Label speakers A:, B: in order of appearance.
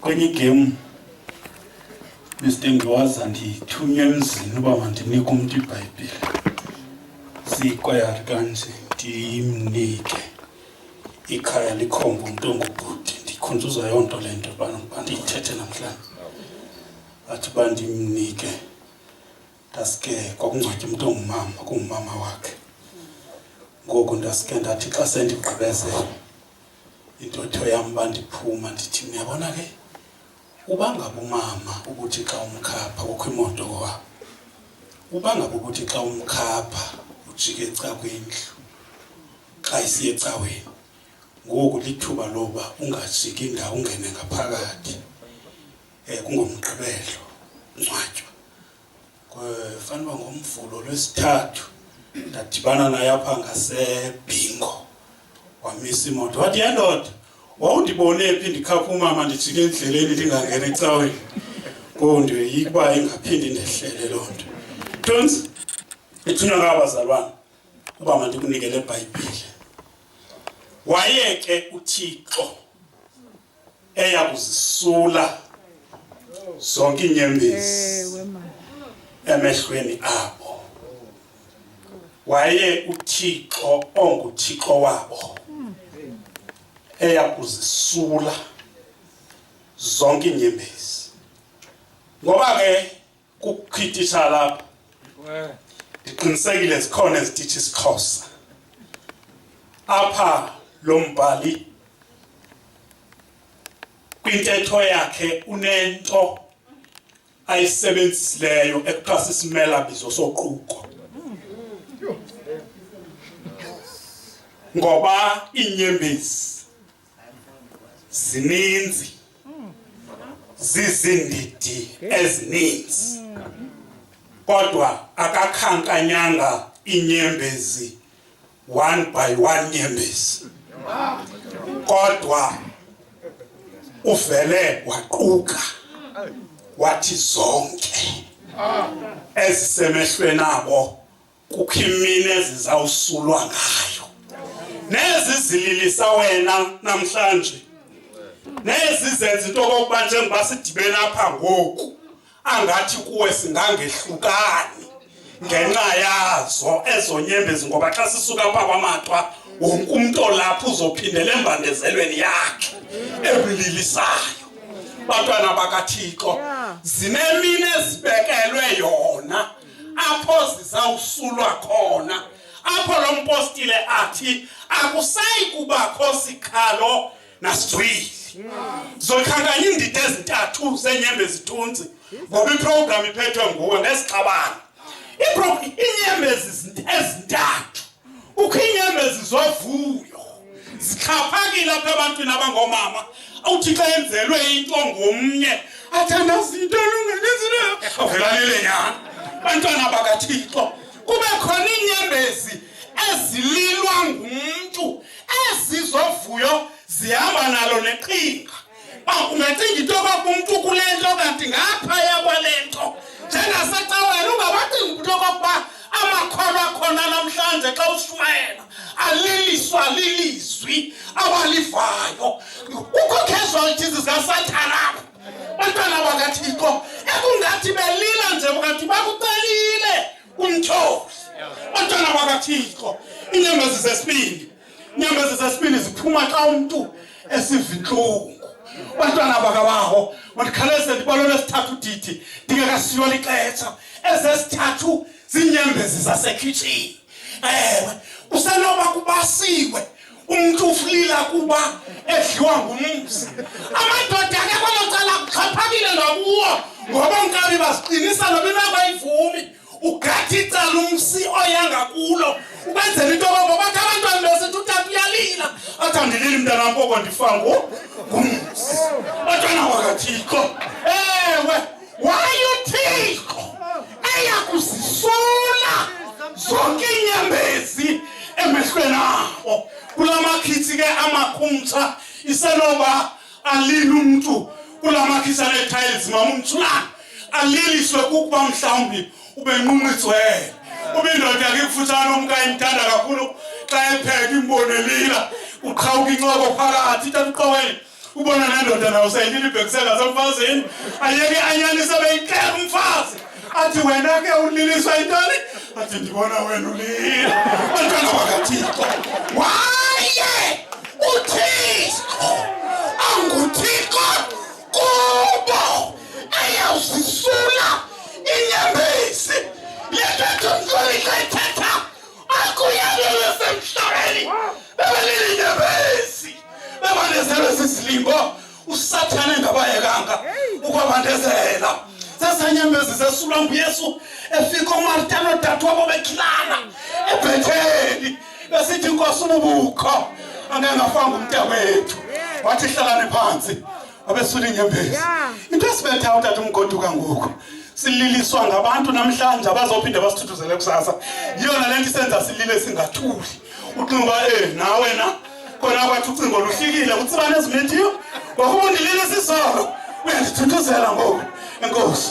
A: kwenye game Mr. Ngiwaza ndithunywe emzini uba mandinike umntu ibhayibhile siyikwayari kanje ndimnike ikhaya likhomba umntu ongubhuti ndikhunjuzwa yoo nto le nto bandiyithethe namhlanje athi uba ndimnike ndaske kwakungcwatywa umntu ongumama kungumama wakhe ngoku ndaske ndathi xa sendigqibezela intotho yam uba ndiphuma ndithi niyabona ke uba ngaba umama ukuthi xa umkhapha kukho imoto wabo uba ngaba ukuthi xa umkhapha ujike ecakwendlu xa isiye ecaweni ngoku lithuba loba ungajiki ndawo ungene ngaphakathi um kungomgqibelo ncwatywa fanuba ngomvulo lwesithathu ndadibana naye apha ngasebhingo wamisa imoto wathi yendoda wawundibone phi ndikhapha umama ndijike endleleni ndingangena ecaweni konto yikuba ingaphindi ndehlele loo nto tonsi ithunywa ngabazalwana uba mandikunike le bhayibhile waye ke uthixo eya kuzisula zonke inyembezi emehlweni abo waye uthixo onguthixo wabo eya kuzisula zonke inyembezi ngoba ke kukhithisha lapho ndiqinisekile zikhona ezitithi isiXhosa apha lo mbhali kwintetho yakhe unento ayisebenzisileyo ekuthiwa sisimela bizo soquko ngoba iinyembezi zininzi zizindidi ezininzi kodwa akakhankanyanga inyembezi one by one nyembezi kodwa uvele waquka wathi zonke ezisemehlweni abo kukho imini ezizawusulwa ngayo nezi zililisa wena namhlanje nezi zenza into okokuba njengoba sidibene apha ngoku angathi kuwe singangehlukani ngenxa yazo ezonyembezi ngoba xa sisuka pha kwamatwa wonke umntu olapha uzophindela embandezelweni yakhe ebililisayo bantwana bakathixo zinemini ezibekelwe yona apho zizawusulwa khona apho lo mpostile athi akusayi kubakho sikhalo nasizwile zokhankanya iindida ezintathu zenyembe zithunzi ngoba iprogram iphethwe nguwe ngesixabane inyembezi ezintathu ukho inyembezi zovuyo zixhaphakile apha ebantwini abangomama awuthi xa enzelwe into ngomnye athandaza into elungelezile avelalile nyana bantwana bakathixo kube khona iinyembezi ezililwa ngumntu ezizovuyo zihamba nalo neqhinga uba ungacinga into yoba umntu kule nto kanti ngaphaya kwale nto njengasecaweni ungabacinga umntu okokuba amakholwa akhona namhlanje xa ushumayela aliliswa lilizwi abalivayo kukho casualties zikasathana apho bantwana bakathixo ekungathi belila nje ungathi bakucelile umthozi bantwana bakathixo inyembezi zesibindi inyembezi zesibini ziphuma xa umntu esiva intlungu abantwana bakabaho mandikhaleze ndibalole esithathu didi ndingekasiywa lixetsha ezesithathu ziinyembezi zasekhitshini ewe usenoba kubasiwe umntu uflila kuba edliwa ngumzi amadoda ke kwelo cala kuxhaphakile nokuwo ngoba nkabi baziqinisa noba inabayivumi ugatha icala umsi oyanga kulo ubenzela into yoba bathi abantwana besithi utata uyalila athi andilili mntanam koko ndifangu ngumsi batwana wakathixo ewe wayuthixo eyakuzisula zonke iinyembezi emehlweni abo kula makhitsi ke amakhumtsha isenoba alile umntu kula makhisa nee-tiles mama umtshulana aliliswe kukuba mhlawumbi ubenqunqitswele uba indoda yakhe ikufutshane omka imthanda kakhulu xa epheka imbonelila uqhawuka incoko phakathi ithatha uqoweni ubona nendoda nayo seyilile ibhekisela semfazini ayeke anyanise beyixela umfazi athi wena ke ulilisa intoni athi ndibona wena ulile bantwana bakathixo waye uthixo anguthixo kubo ayawuzisula inyembezi yethetho msolika ithetha akuyalele semhlabeni bebalile inyembezi bebalezele sisilimbo usathane engabayekanga ukwabandezela sesanyembezi zesulwa nguyesu efika umarta nodade wabo bekhilana ebhetheli besithi inkosi ububukho angeke ngafanga umnta wethu wathi hlalane phansi wabesula inyembezi into esibetha utata umgoduka ngoku sililiswa ngabantu namhlanje abazophinde basithuthuzele kusasa yiyona le nto isenza silile singathuli ucinga eh nawe na kona kwathi ucingo lufikile utsibane ezimithiyo wakuba ndilile sisolo uyandithuthuzela ngoku enkosi